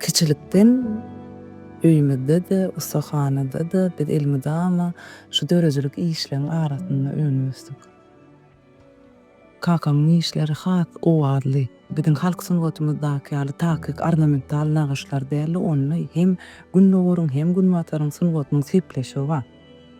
Kiçilikden öýümizde-de, ussahanada-da biz elmydama şu döredijilik işleriň arasynda önüp-ösdük. Kakamyň işleri has owazly, biziň halk sungatymyzdaky ýaly takyk ornamental nagyşlar däldi, onda hem Gündogaryň, hem Günbataryň sungatynyň sepleşigi bar.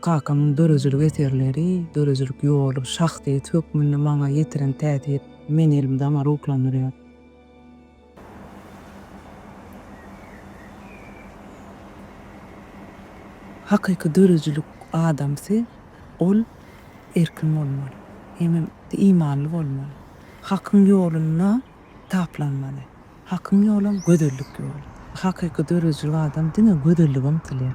Kakamyň döredijilik eserleri, döredijilik ýoly şahsyýet hökmünde maňa ýetiren täsir meni elmydama ruhlandyrýar. Hakyky döredijilik adamsy, ol erkin bolmaly, hemem imanly bolmaly, Hakyň ýolunda taplanmaly. Hakyň ýolam gözellik ýoly. Hakyky döredijilik adam diňe gözellige ymtylýar.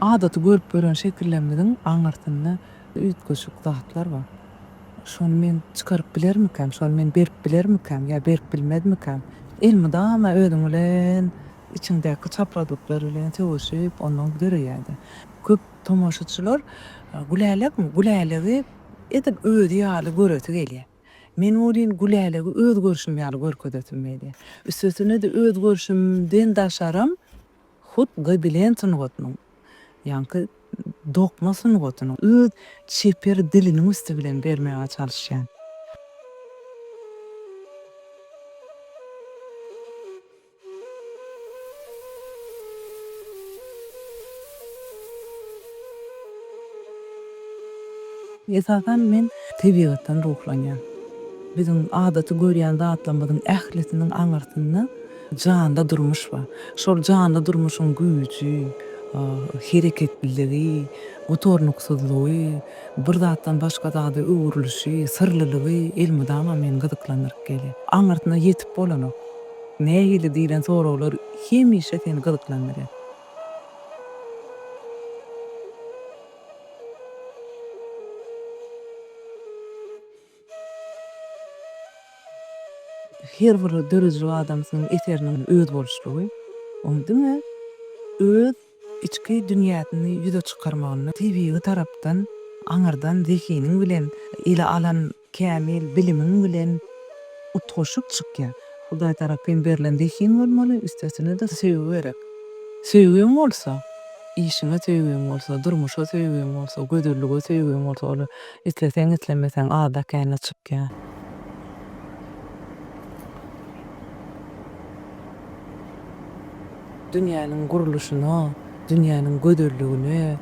Adaty görüp gören şekillerimiziň aňyrsynda üýtgeşik zatlar bar. Şony men çykaryp bilermikäm, şony men berip bilermikäm ýa berip bilmezmikäm? Elmydama özüň bilen, içiňdäki çaprazlyklar bilen sögüşip, ondan döreýär-de. Köp tomaşaçylar Gülälekmi? Gülälegi edil özi ýaly göresi gelýär. Men welin Gülälegi öz görşüm ýaly görkezesim gelýär. Üstesine-de öz görşümden daşaram hut gobelen sungatynyň, ýaňky dokma sungatynyň öz çeper diliniň üsti bilen bermäge çalyşýan. Esasan men tebigatdan ruhlanýan. Biziň adaty görýän zatlarymyzyň ählisiniň aňyrsynda janly durmuş bar. Şol janly durmuşyň güýji, hereketliligi, gutarnyksyzlygy, bir zatdan başga zada öwrülişi, syrlylygy elmydama meni gyzyklandyryp gelýär. Aňyrsyna ýetip bolanok. Nähili diýlen soraglar hemişe seni gyzyklandyrýar? Her bir döredijilik adamsynyň eseriniň özboluşlygy, oň diňe öz içki dünýäsini ýüze çykarmagynda tebigy tarapdan aňyrdan zehiniň bilen ele alan Kämil bilimiň bilen utgaşyp çykýar. Hudaý tarapyn berlen zehin bolmaly, üstesine-de söýgi gerek. Söýgiň bolsa, işiňe söýgiň bolsa, durmuşa söýgiň bolsa, gözellige söýgiň bolsa, ol isleseň-islemeseň ada känä çykýar. Dünýäniň gurluşyna, dünýäniň gözelligine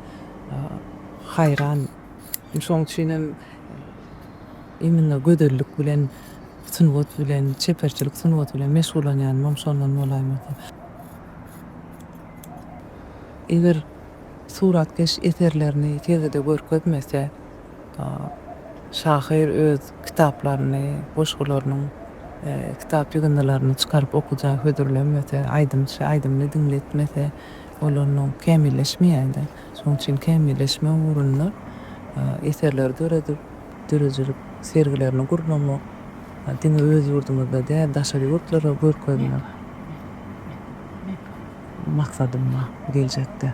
haýran. Şoň üçinem imенно gözellik bilen, sungat bilen, çeperçilik sungaty bilen meşgullanýanym hem şondan bolaýmasa. Eger suratkeş eserlerini sergide görkezmese, şahyr öz kitaplaryny, goşgularynyň kitap ýygyndylaryny çykaryp okyja hödürlemese, aýdymçy aýdymyny diňletmese, ol onda kämilleşmeýär-de. Şonuň üçin kämilleşmek ugrunda eserleri döredip, döredijilik sergilerini gurnamak, diňe öz ýurdumyzda däl, daşary ýurtlara görkezmek maksadym bar geljekde.